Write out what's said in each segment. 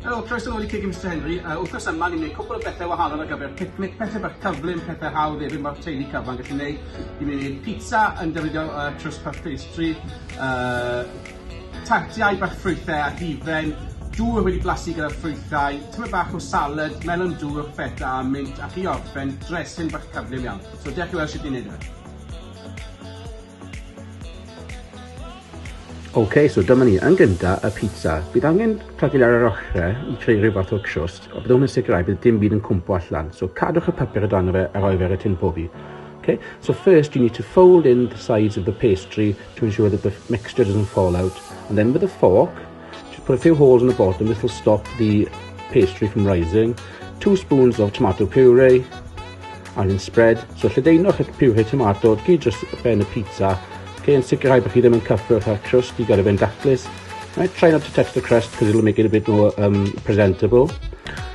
Helo, croeso nôl i Cig i Mister Henry. Yy, wthnos yma ni'n gwneud cwpl o bethe wahanol ar gyfer picnic, pethe bach cyflym, pethe hawdd efyd ma'r teulu cyfan gallu neud. Ni'n mynd i neud pizza yn defnyddio yy trust puff pastry, yy tartiau bach ffrwythe a hufen, dŵr wedi blasu gyda ffrwythau, tymed bach o salad, melon dŵr, feta a mint, ac i orffen, dressing bach cyflym iawn. So dewch i weld shwt ni'n neud e. Ok, so dyma ni, yn gynta, y pizza. Bydd angen plagil ar yr ochre i creu rhyw fath o crwst, a byddwn yn sicrhau bydd dim byd yn cwmpo allan. So cadwch y papur o dan fe a roi fe ar y tin pobi. Okay, so first you need to fold in the sides of the pastry to ensure that the mixture doesn't fall out, and then with a fork, Just put a few holes in the bottom, this will stop the pastry from rising. Two spoons of tomato puree, and then spread. So lledaenwch y puree tomato, gyd dros ben y pizza. Okay, yn sicrhau bod chi ddim yn cyffwrdd â'r crust i gael ei fe'n daclus. Right, try not to touch the crust because it'll make it a bit more um, presentable.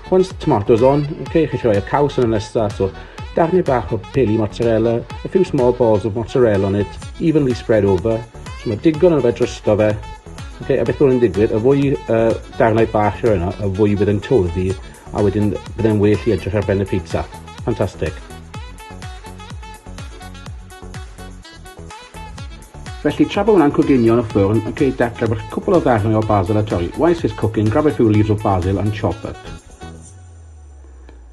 Once the tomatoes on, okay, chi rhoi y caws yn y nesaf, so darnau bach o peli mozzarella, a few small balls of mozzarella on it, evenly spread over. So mae digon yn fe drosto fe, Ok a beth yn digwydd y fwy yy darnau bach roi yno y fwy bydd e'n toddi a wedyn bydd e'n well i edrych ar ben y pizza. Ffantastig. Felly tra bod hwnna'n coginio yn y ffwrn, ok, dechrau bych cwpl o ddarnau o basil a torri. Whilst it's cooking, grab a few leaves of basil and chop up.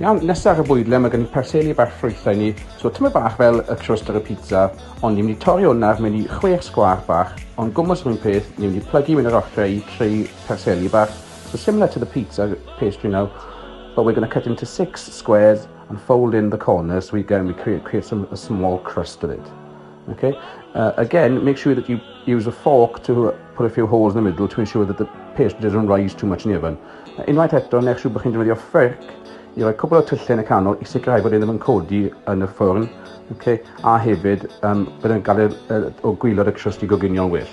Iawn, nesa ar y bwydle mae gen i perseli bach ffrwytha i ni, so tyma bach fel y crust ar y pizza, ond ni mynd i torri hwnna mewn i chwech sgwar bach, ond gwmws yr un peth, ni mynd i plygu mewn yr ochrau i creu perseli bach, so similar to the pizza pastry now, but we're gonna cut into six squares and fold in the corners so we, again, we create, create some, a small crust of it. Ok yy again make sure that you use a fork to yy put a few holes in the middle to ensure that the pastry doesn't rise too much in the oven. Yy unwaith eto nech siŵr bo' chi'n defnyddio ffyrc i roi cwpwl o tylle yn y canol i sicrhau bod e ddim yn codi yn y ffwrn ok a hefyd yym bydd e'n gadel yy o gwilod y crust i goginio'n well.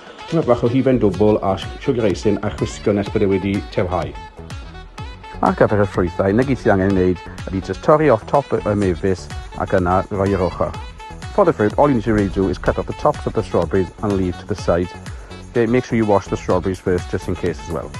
Tymed bach o hufen dwbl a siwgr eisin a chwisgo nes bod e wedi tewhau. Ar gyfer y ffrwythau, neu gyd sydd angen ei wneud ydy just torri off top y mefus ac yna roi i'r ochr. For the fruit, all you need to really do is cut off the tops of the strawberries and leave to the side. Okay, make sure you wash the strawberries first just in case as well.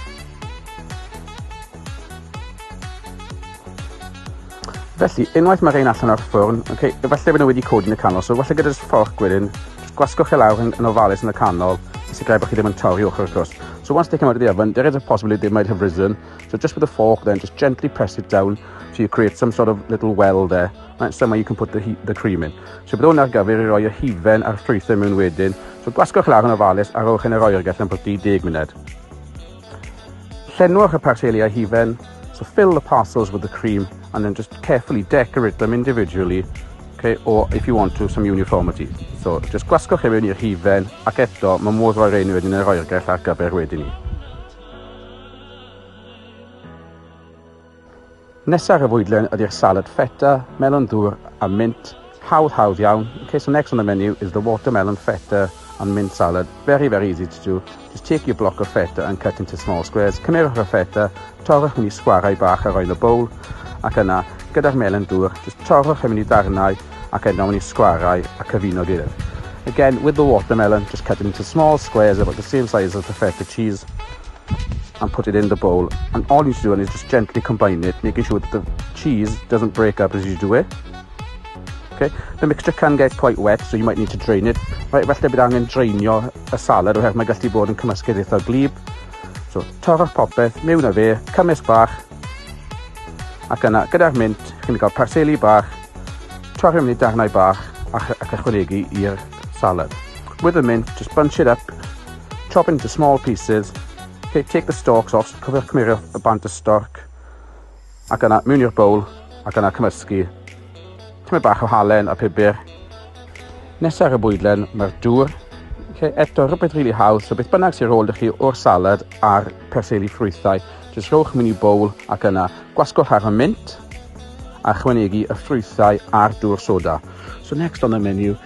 Felly, unwaith mae rhain allan o'r ffwrn, okay, efallai bod nhw wedi codi yn y canol, so efallai gyda jyst fforch gwyrin, jyst gwasgwch e lawr yn, yn ofalus yn y canol, i sicrhau bod chi ddim yn torri ochr y cwrs. So once they come out of the oven, there is a possibility they might have risen, so just with a fork then, just gently press it down, so you create some sort of little well there, right, somewhere you can put the, the cream in. So bydd hwn ar gyfer i roi y hufen a'r ffrwythau mewn wedyn, so gwasgwch lawr yn ofalus a rowch yn yr oergell am bod 30 munud. Llenwch y parceliau hufen, so fill the parcels with the cream and then just carefully decorate them individually, okay, or if you want to, some uniformity. So, just gwasgwch e mewn i'r hufen, ac eto, mae modd roi rhain wedyn yn yr oergell ar gyfer wedyn ni. Nesaf ar y fwydlen ydy'r salad feta, melon ddŵr a mint, hawdd hawdd iawn, in case the next on the menu is the watermelon feta and mint salad, very very easy to do, just take your block of feta and cut into small squares, cymerwch y feta, torrwch mewn i sgwarau bach a roi yn y bowl, ac yna, gyda'r melon dŵr, just torrwch e mewn i ddarnau ac eto mewn i sgwarau a cyfuno gilydd. Again, with the watermelon, just cut it into small squares about the same size as the feta cheese, and put it in the bowl and all you should do is just gently combine it making sure that the cheese doesn't break up as you do it okay the mixture can get quite wet so you might need to drain it right falle bydd angen drainio y salad oherwydd mae gallu bod yn cymysgedd eitha glib so torrwch popeth mewn â fe cymysg bach ac yna gyda'r mint chi'n cael parseli bach torri mewn i darnau bach ac, ac ychwanegu i'r salad with the mint just bunch it up Chop into small pieces, ok, take the stalks off, so cofiwch cymerio y bant y storc, ac yna mewn i'r bowl, ac yna cymysgu. Tymed bach o halen a pibr. Nesaf ar y bwydlen, mae'r dŵr, okay, eto rhywbeth rili really haws, so beth bynnag sy'n rôl ydych chi o'r salad a'r perseli ffrwythau, jyst rhowch mewn i bowl ac yna gwasgwch ar y mint, a chwynegu y ffrwythau a'r dŵr soda. So next on the menu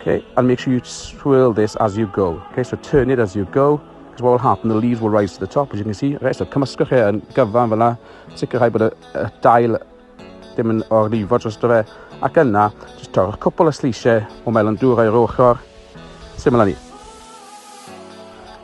Okay, and make sure you swirl this as you go. Okay, so turn it as you go, because what will happen, the leaves will rise to the top, as you can see. Okay, so cymysgwch e yn gyfan fel yna, sicrhau bod y, y dail ddim yn o'r lifo dros fe, ac yna, just torrwch cwpl o sleisiau o melon dŵr o'r ochr, syml â ni.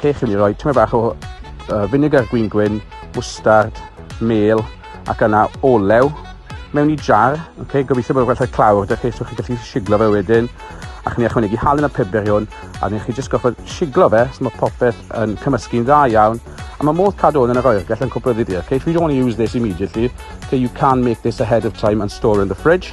Lle chi'n mynd i roi tyma bach o uh, vinegar gwyn gwyn, mwstard, mel ac yna olew mewn i jar. Okay, gobeithio bod yn gwerthau clawr, da chi, so chi'n gallu siglo fe wedyn. Ac ni ychwanegu halen a pebr i hwn, a ni chi jyst goffa siglo fe, so mae popeth yn cymysgu'n dda iawn. A mae modd cadw hwn yn yr oergell yn cwbl ddifyr. Okay, if you don't want to use this immediately, okay, you can make this ahead of time and store in the fridge.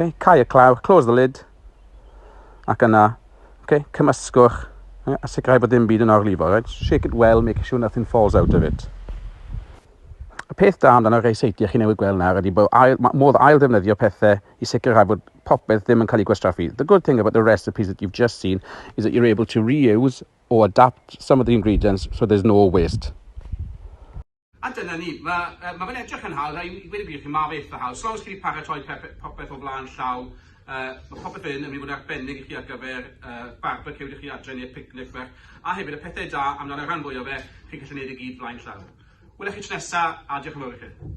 Okay, cau y claw, close the lid. Ac yna, okay, cymysgwch yeah, a sicrhau bod dim byd yn orlifo. Right? Shake it well, make sure nothing falls out of it. Y peth da amdano rei seitiau chi newydd gweld nawr ydy bod ail, modd ail ddefnyddio pethau i sicrhau bod popeth ddim yn cael ei gwastraffu. The good thing about the recipes that you've just seen is that you're able to reuse or adapt some of the ingredients so there's no waste. A dyna ni. Mae uh, ma fe'n edrych yn hawdd, a i wedi gwir chi, mae fe eitha hawdd. Slaws chi wedi paratoi popeth o flaen llaw, uh, mae popeth yn yn mynd i fod yn arbennig i chi ar gyfer uh, barbecue ydych chi adre neu'r picnic fach. A hefyd, y pethau da amdano'r rhan fwy o fe, chi'n gallu gwneud i gyd flaen llaw. Wylech chi tro nesaf, a diolch yn fawr i chi.